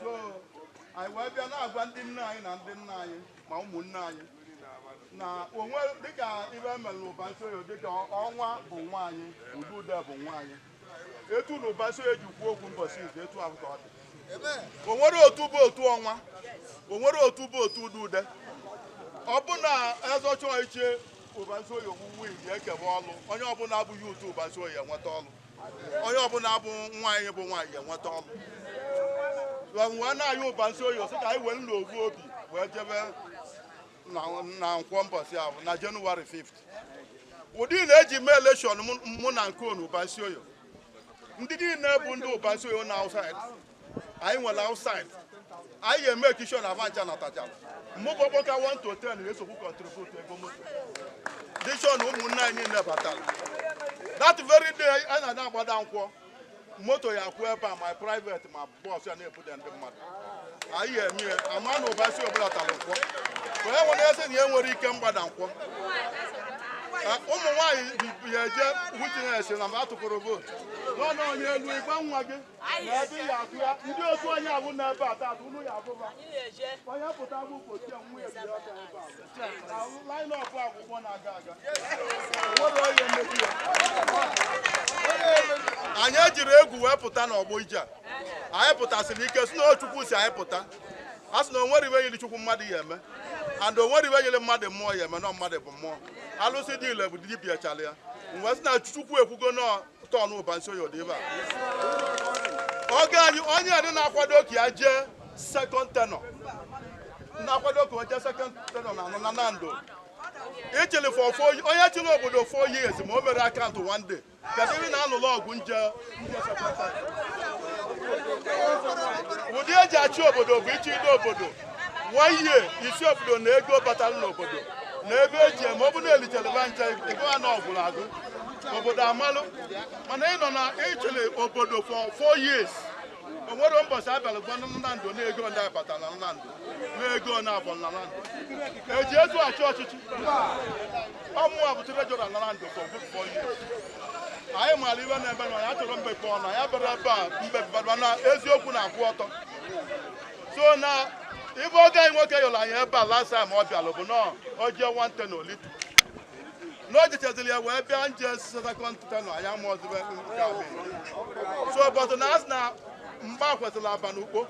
so anyị wee bịa na-agwa ndị nne anyị na ndị nna anyị ma ụmụnne anyị na onwe dịka ive mere n'ubarunisioye dịka ọnwa bụ nwa anyị udude bụ nwa anyị etu na ubarunisioye ji kwuo okwu mbọchị izu etu ahụ ka ọ dị o nwere otu bụ otu ọnwa o nwere otu bụ otu udude ọ bụ na azọcha oche ubarunisioye owuwe iji ekebe ọlụ onye ọbụla bụ otu ubarunisioye enweta ọlụ onye ọbụla bụ nwa anyị bụ nwa anyị ga-enweta ọlụ wee na-ayịọ ubarunisioye sị ka anyị wee n'ovu obi wee jebe na nkwọ mbọsị ahụ na january 5th ụdị na eji mee election mụ na-ekene unu ubarunisioye ndị niile bụ ndị ubarunisioye na outside anyị nwere outside anyị ga-eme ekisho na avancha na tachala mụ bụ ọkpọka 1 to 10 ga-esokwu contribute ego moto dishọ na ụmụnne anyị niile batara that very day anyị na-agbada nkwọ moto ya kwụ ebe a ma private ma bus ya na-ebuda ndị mmadụ anyị eme ya ama na ubarunisioye bụla tara nkwọ ka onye nwere eze na ya nwere ike mgbada nkwọ ụmụ nwaanyị ya eje witness na mba atụpụrụ vote n'ọnụ onye elu ịgba nwa gị n'ebe ya atụ ya ndị otu onye abụ na ebe a taata unu ya abụba onye pụta bụ ụbọchị ya nwa ebi ọka ebe a line up akwụkwọ na-aga aga o nwere onye mmebi ya anyị ejiri egwu wee pụta n'ọgbọ ije a anyị pụtasịrị ike si na o chukwu sị anyị pụta a sị na o nwere ive yiri chukwu mmadụ ya eme and o nwere ive yiri mmadụ mmụọ ya eme na mmadụ bụ mmụọ alụsị dị ile bụ dibịa chara ya mgbe sị na chukwu ekwugo na ọ turn ubarunisioye dị ebe a ọgọ anyị onye adị na-akwado ka ya jee second tenure na-akwado ka o jee second tenure na anọ na nando ị chịlị for four ye- onye chịrị obodo four years ma o merọ account one day kedu ihe na-alụlụ ọgụ nje nje second tenure ụdị eji achị obodo bụ ị chịide obodo one year ị sị obodo na ego batara n'obodo na ebe eji eme ọ bụ na e lichara ncha ego a na ọ gwụrụ agwụ obodo amalụ mana ị nọ na ị chịrị obodo for four years o nwere ụbọchị a bịara gwa nando na ego ndị a bata na nando na ego na abọ na nando eji ezu achị ọchịchị ọ mụwa bụ treasurer na nando for good four years anyị maara ive na-eme na ya chọrọ mbepe ọnụ ya bịara ebe a mbepe na eziokwu na-akwụ ọtọ so na ive ọgọ anyị nwoke yọrọ anyị ebe a last time ọ bịalụ bụ na o jee one tenure olitu na o jechaziri ya wee bịa nje second tenure anyị amarọzị ive nke a bụ so but na asị na mgba kwesịrị agba n'ukpo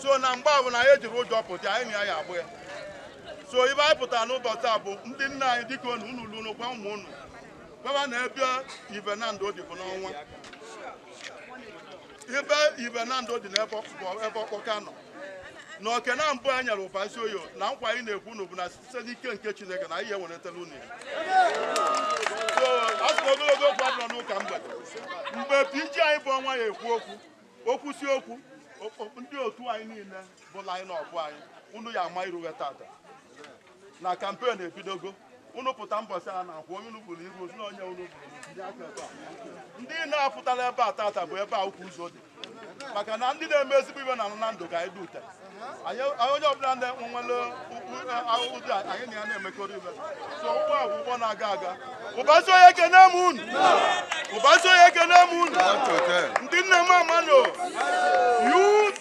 so na mgba a bụ na anyị ejirọ ụjọ pụta anyị na ya agba ya so ive anyị pụtara n'ụbọchị a bụ ndị nna anyị dịka unu unu lu unu gwa ụmụ unu gwaba na ebe ive nando dị bụ n'ọnwa ibe Nando dị n'ebe ọkpọka nọ na oke na mbụ a nyere Ubarunisioye na nkwa anyị na-ekwe unu bụ na site n'ike nke chineke na ihe weretela unu ya a sịrị ogologo okwu adịrọ n'ụka mgbede mgbe pg anyị bụ ọnwa ya ekwu okwu o kwusi okwu ndị otu anyị niile bụ line up anyị unu ya ama iru we tata na kampen ebidogo unu pụta mbọchị a na-akwụ onye unu bụrụ iru ozu na onye unu bụrụ tinye aka ebe a ndị na-apụtara ebe a tata bụ ebe a ukwu ụzọ dị maka na ndị na-eme ezigbo ive na Nando ka anyị dute anyị anyị onye ọbụla na-enwe nwere ukwu ahụhụ dị a, anyị na ya na-emekọrọ ive so ụgbọ a bụ ụgbọ na-aga aga Ubarunisioye ekene m unu Ubarunisioye ekene m unu ndị nne mama ndị youth